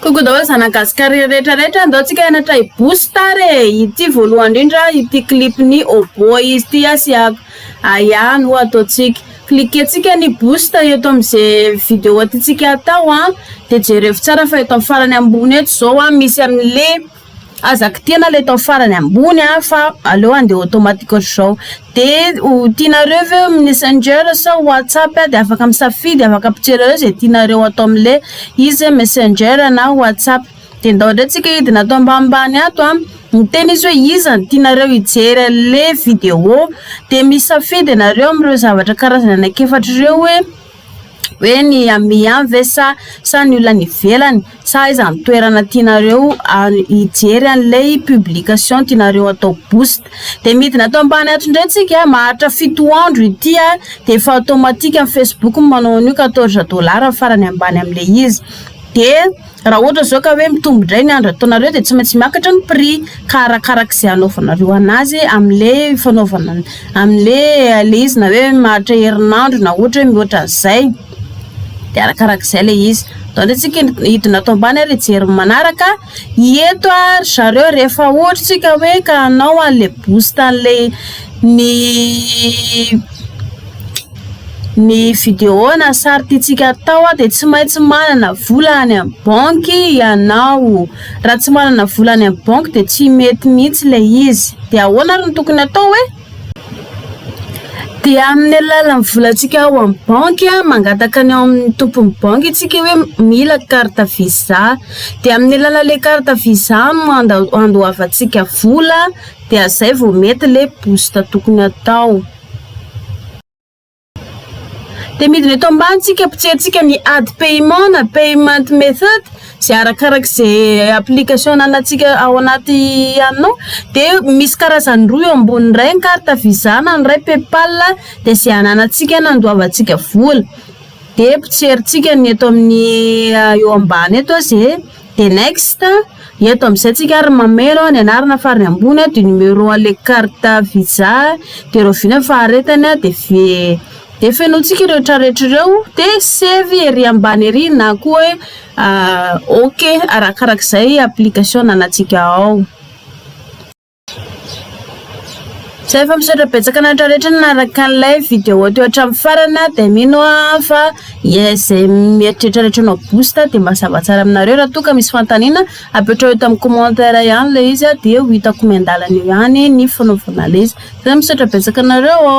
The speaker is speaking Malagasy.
Coucou daholo zana gasy kary rehetra rehetra ndao tsika hianatra i boostar e ity voalohany indrindra ity clip ny obo izy ity asiako aya no ataontsika cliquer tsika ny booster eto amizay video aty tsika atao a de jerevo tsara fa eto amin'ny farany ambony eto zao a misy amin'le Aza kitihana ilay tao farany ambony a fa aleo andeha automatique ohatr'izao. Dia ho tianareo ve ho messenger sa whatsapp dia afaka misafidy, afaka mijery ao izay tianareo atao amin'ilay izy messenger na whatsapp. Dia ndao indray tsika hidina ato ambanimbany ato a, miteny izy hoe iza no tianareo hijery an'ilay video dia misafidy ianareo amin'ireo zavatra karazany anaky efatra ireo hoe. hoe ny amin ihany ve sa sa ny olona any ivelany sa aiza ny toerana tianareo ary hijery an'ilay publication tianareo atao boost dia midina ato ambany ato indray tsika maharitra fito andro ity a dia efa automatique amin'ny facebook ny manao an'io quatorze dollars farany ambany amin'ilay izy dia Raha ohatra izao ka hoe mitombo indray ny handratoanareo dia tsy maintsy miakatra ny prix ka arakaraka izay hanaovanareo anazy amin'le fanaovana amin'le le izy na hoe maharitra herinandro na ohatra hoe mihoatra an'izay dia arakaraka izay le izy donc antsika hidina ato ambany ary hijery ny manaraka hieto ary zareo rehefa ohatra tsika hoe ka hanao an'le boost an'le ny Ny vidéo na sary tiantsika atao dia tsy maintsy manana vola any amin'ny banky ianao. Raha tsy manana vola any amin'ny banky dia tsy mety mihitsy ilay izy. Dia ahoana ary no tokony atao e? Dia amin'ny alalan'ny volantsika ao amin'ny banky, mangataka ny ao amin'ny tompon'ny banky isika hoe mila carte visa. Dia amin'ny alalan'ilay carte visa no andoavantsika vola dia izay vao mety ilay boost tokony atao. Dia midina eto ambany tsika ampitsiantsika ny ady paiement na payment method izay arakaraka izay application anantsika ao anaty anao dia misy karazany roa eo ambony iray ny carte visa na ny iray paypal dia izay ananantsika nandoavantsika vola dia ampitsierintsika ny eto amin'ny eo ambany eto izay The next, Eto amin'izay tsika ary mameno ny anarana farany ambony du numéro à le carte visa dia rahoviana ny faharetany dia ve dia fenointsika ireo tra rehetra ireo dia save ery ambany ery na koa hoe ok arakarak'izay application ananantsika ao. Zay fa misaotra betsaka anareo rehetra nanaraka an'ilay vidéo teo hatramin'ny farana dia mino aho fa izay mieritreritra rehetra hanao boost dia mazava tsara aminareo raha toa ka misy fanontaniana apetraho eto amin'ny commentaire ihany ilay izy dia ho hitako miandalana eo ihany ny fanaovana ilay izy. Zay misaotra betsaka anareo ô!